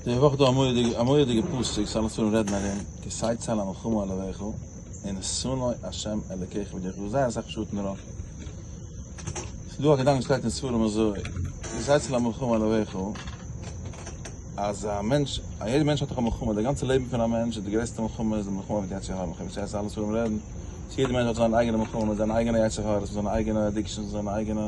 די וואך דא א מורא'דיגע פסוק, ס'אלע ספרים רעדן ארום, כי שא צל המלחמה על אוהביך, און שונאי השם אלוקיך וועט דיך, זייער אסאך פשטים דערויף, ס'איז דא א געדאנק וואס שטייט אין ספרים אזוי, כי שא צל המלחמה על אוהביך, אז א מענטש, א יעדע מענטש האט דאך א מלחמה, די גאנצע לעבן פון א מענטש איז די גרעסטע מלחמה איז די מלחמה מיט יצר הרע, כפי ס'הייסט אין אלע ספרים רעדן, אז יעדע מענטש האט זיין אייגענע מלחמה מיט זיין אייגענע יצר הרע, מיט זיינע אייגענע אדיקשענס, מיט זיינע אייגענע.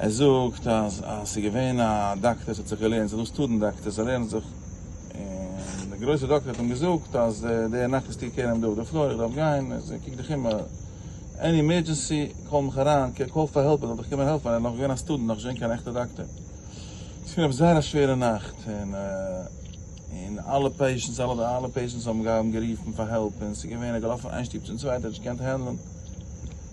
ער זאגט אז אז ס'איז געווען א דאקטער ס'האט זיך געלערנט ס'איז דא סטודענט דאקטער ס'לערנט זיך און די גרויסע דאקטער האט אים געזאגט אז די נאכט איז טו קעיר אים דא אויף די פלאר איך דארף גיין איז קוק דיך אום עני אימערדזשענסי קאל מיך אריין קאל פאר העלפ ער זאל דיך קומען העלפן ער איז נאך געווען א סטודענט נאך נישט געווען קיין עכטע דאקטער ס'איז געווען עפעס זייער א שווערע נאכט און און אלע פעישענטס אלע אלע פעישענטס האבן גערופן פאר העלפ און ס'איז געווען ער איז געלאפן איין שטוב צום צווייטען ער האט נישט געקענט הענדלען.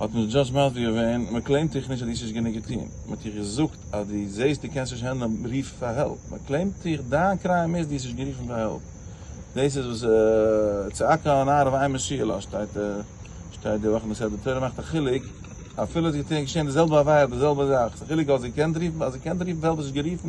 האט נישט דזשאדזש מסביר געווען, מען קלעימט דיך נישט אז דו האסט נישט גענוג געטון, מען האט דיך געזאגט אז דו זעהסט דו קענסט נישט הענדלען רוף פאר העלפ, מען קלעימט דיך דיין קריים איז דו האסט נישט גערופן פאר העלפ, דאס איז וואס צעקה אן אייער אויף איין משה'לע אז שטייט שטייט די וואך אין די סדר תורה מאכט א חילוק אפילו עס איז געשעהן די זעלבע עבירה די זעלבע זאך, ס'איז א חילוק אז זי קען רופן אז זי קען רופן פאר העלפ האסט נישט גערופן.